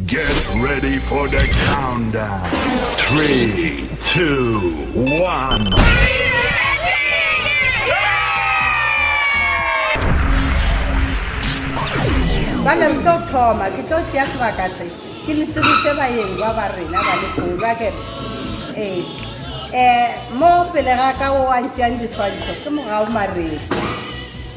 Get ready for the countdown. Three, two, one. bana re tlo thoma ke tlo tšea sebaka se ke le sebise bayeng ba ba rena ba lekola ke ee um mo pele ga ka o wa ntšeang diswantšho ke mogao maredi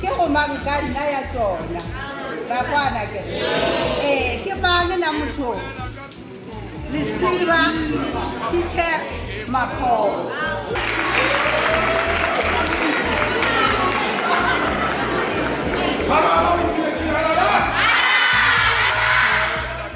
ke go mang ka nna ya tsona ra kwana ke ee ke mang na motho lesiba teacher makgobo Bravo!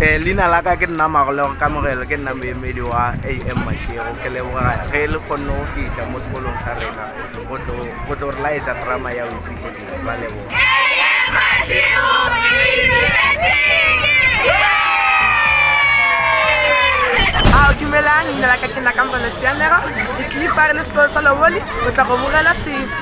Eh, leina la ka ke nna magolego kamogelo ke nna moemedi wa am mashego ke leboga ge le kgonne go fitlha mo sekolong sa rena go tlo- go tlo re laetsa drama ya oiphitlhedile ba leboga ao dumelang leina la ka ke nna kamogelo siamega ke tlile fa re le sekolo sa loboli o tla go bogela se